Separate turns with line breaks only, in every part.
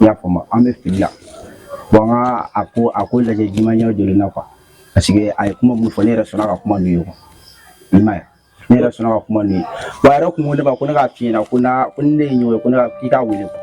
n y'a faamu an bɛ fili la bon an ka a ko a ko lajɛ de manière jolie na quoi parce que a ye kuma mun fɔ ne yɛrɛ sɔnna ka kuma n'u ye quoi i m'a ye ne yɛrɛ sɔnna ka kuma n'u ye wa a yɛrɛ kun ko ne ma ko ne k'a f'i ɲɛna ko na ko ni ne ye ɲɔgɔn ye ko ne ka k'i k'a wele quoi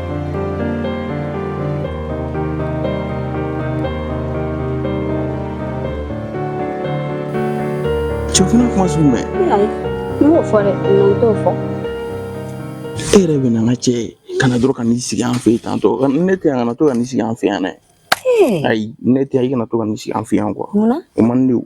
Cɛkɔrɔba kuma sugu mɛn n b'o
fɔ dɛ n t'o
fɔ e yɛrɛ bɛ na n ka cɛ ye ka na dɔrɔn ka n'i sigi an fɛ yen tantɔ ne tɛ yan kana to ka n'i sigi an fɛ yan dɛ ayi ne tɛ yan i kana to ka n'i sigi an fɛ yan quoi o man di o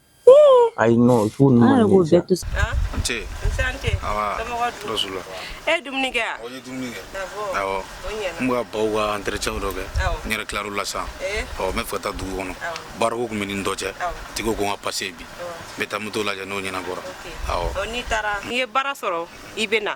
ayi non fo ninnu an yɛrɛ b'o
bɛɛ to nse e dumuni kɛ
wa n ye dumuni
kɛ awɔ n bɛ ka baw ka entretien dɔ kɛ n yɛrɛ tilara o la sisan ɔ n bɛ fɛ ka taa dugu kɔnɔ baarako tun bɛ ni dɔ cɛ tigi ko n ka passe bi n bɛ taa moto lajɛ n'o ɲɛnabɔra awɔ n'i taara n'i ye
baara sɔrɔ i bɛ na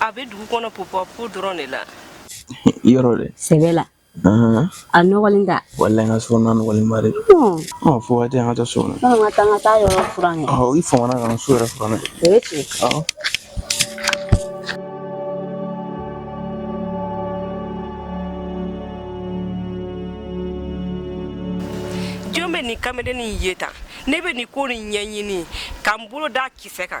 a bɛ dugu kɔnɔ popo dɔrɔn de la
yɔrɔ dɛ sɛbɛ la
Ahan, a nɔgɔlen da walayi n ka so na nɔgɔlenba
de don ɔ fo waati an ka taa so na an ka taa an ka taa yɔrɔ
furan kɛ ɔ i famana ka n so yɛrɛ
furan dɛ o ye tiɲɛ ɔ
jɔn bɛ nin kamalennin in ye tan ne bɛ nin ko nin ɲɛɲini ka n bolo da kisɛ kan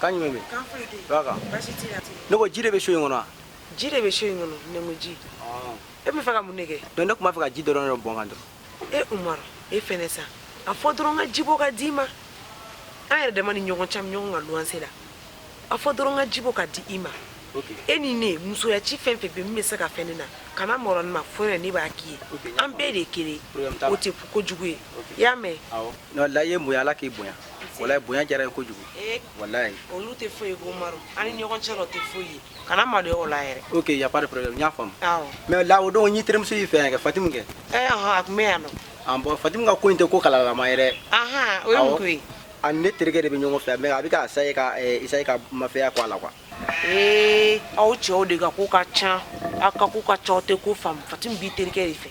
Kan jumɛn bɛ kan foyi tɛ yen ba kan baasi t'i la ne ko ji de bɛ so in kɔnɔ wa ji de bɛ so
in kɔnɔ ne ko ji e bɛ fɛ ka mun de kɛ donc ne tun b'a fɛ ka ji dɔrɔn dɔ
bɔn n kan dɔrɔn e umaru e fɛnɛ
sa a fɔ dɔrɔn ka ji bɔ ka d'i ma an yɛrɛ dama ni ɲɔgɔn cɛ ɲɔgɔn ka luwanse la a fɔ dɔrɔn ka ji bɔ ka di i ma e ni ne musoya ci fɛn fɛn bɛ min bɛ se ka fɛn ne na kana malo ne ma fo yɛrɛ ne b'a k'i ye an bɛɛ de ye kelen o tɛ ko jugu ye i y'a mɛn layi ye mun ye
ala k'i bonya walayi bonya diyara n ye kojugu eh, walayi olu tɛ foyi ye
ko umaru an ni ɲɔgɔn cɛ la o tɛ foyi ye kana maloya o la yɛrɛ ok y a pas de problème n y'a
faamu mais la o don n y'i terimuso y'i fɛ yan kɛ fatimu kɛ eh, a tun bɛ yan nɔ
an bon fatimu ka ko in tɛ ko
kalalama ye dɛ o ye mun ko
ye a ni ne terikɛ de
bɛ ɲɔgɔn fɛ mais a bɛ ka essayer ka essayer eh, ka mafɛya ko a la quoi ee
aw cɛw de ka ko ka ca aw ka ko ka ca aw tɛ ko faamu fatimu b'i terikɛ de fɛ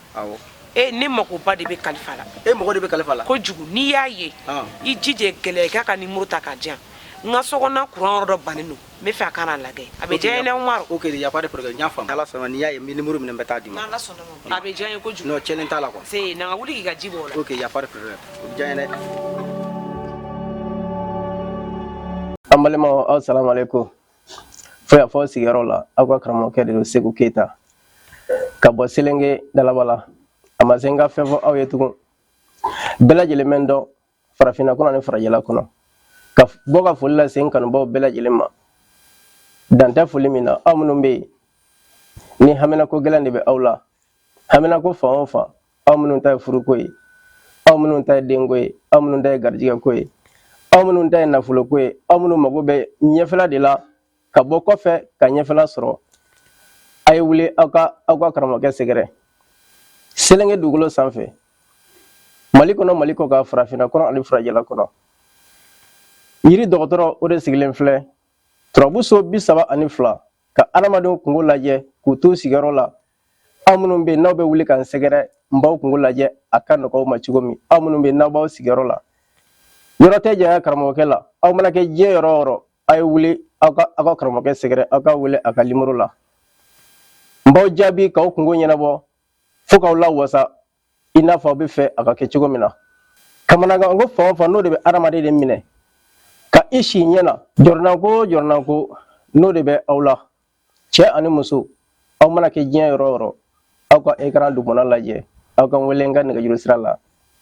e ne
makoba de bɛ kalifa la e mako de bɛ kalifa la
kojugu n'i y'a
ye i jija gɛlɛya k'a ka numéro ta k'a di yan n ka sokɔnɔna kuran yɔrɔ dɔ bannen don n bɛ fɛ a ka na a lajɛ a bɛ diya n ye dɛ umaru ok y a pas de problème n y'a
faamu ala sɔnna n'i y'a ye n bɛ numéro minɛ n bɛ taa d'i ma a bɛ
diya n ye kojugu non cɛ t'a la quoi
se na wuli k'i ka ji
bɔ ok y a pas
de problème o bɛ diya n ye an
balima aw sara ko fo yan fo aw sigiyɔrɔ la aw ka karamɔgɔkɛ de don segu keyita ka bɔ selenge dalaba la a ma se n ka fɛn fɔ aw ye tugun bɛɛ lajɛlen bɛ n dɔn farafinna kɔnɔ ani farajɛla kɔnɔ ka bɔ ka foli lase n kanubaw bɛɛ lajɛlen ma dan tɛ foli min na aw minnu bɛ yen ni haminako gɛlɛn de bɛ aw la haminako fan o fan aw minnu ta ye furuko ye aw minnu ta ye denko ye aw minnu ta ye garijigɛ ko ye aw minnu ta ye nafolo ko ye aw minnu mago bɛ ɲɛfɛla de la ka bɔ kɔfɛ ka ɲɛfɛla sɔrɔ a ye wuli aw ka aw ka karamɔgɔkɛ sɛgɛrɛ selenge dugukolo sanfɛ mali kɔnɔ mali kɔkan farafinna kɔnɔ ani farajɛla kɔnɔ yiri dɔgɔtɔrɔ o de sigilen filɛ turabu so bi saba ani fila ka adamadenw kungo lajɛ k'u to sigiyɔrɔ la aw minnu bɛ yen n'aw bɛ wuli ka n sɛgɛrɛ n b'aw kungo lajɛ a ka nɔgɔ aw ma cogo min aw minnu bɛ yen n'aw b'aw sigiyɔrɔ la yɔrɔ tɛ janya karamɔgɔkɛ la aw mana kɛ diɲɛ yɔrɔ o yɔrɔ a ye wuli aw ka aw ka karamɔgɔkɛ sɛgɛrɛ aw ka wele a ka nimoro la n b'aw jaabi k'aw kungo ɲɛnabɔ fo k'aw lawasa i n'a fɔ aw b'a fɛ a ka kɛ cogo min na kamanagan ko fan o fan n'o de bɛ adamaden de minɛ ka i si ɲɛ na jɔrɔnanko o jɔrɔnanko n'o de bɛ aw la cɛ ani muso aw mana kɛ diɲɛ yɔrɔ o yɔrɔ aw ka ekran dugumana lajɛ aw ka wele n ka nɛgɛjuru sira la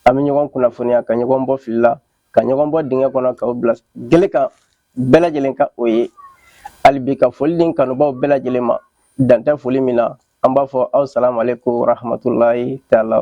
an bɛ ɲɔgɔn kunnafoniya ka ɲɔgɔn bɔ fili la ka ɲɔgɔn bɔ dingɛ kɔnɔ k'aw bila gele kan bɛɛ lajɛlen ka o ye hali bi ka foli di n kanubaw bɛɛ lajɛlen ma dan tɛ foli min na an b'a fɔ aw salamu aleyikum wa rahamatulayi taala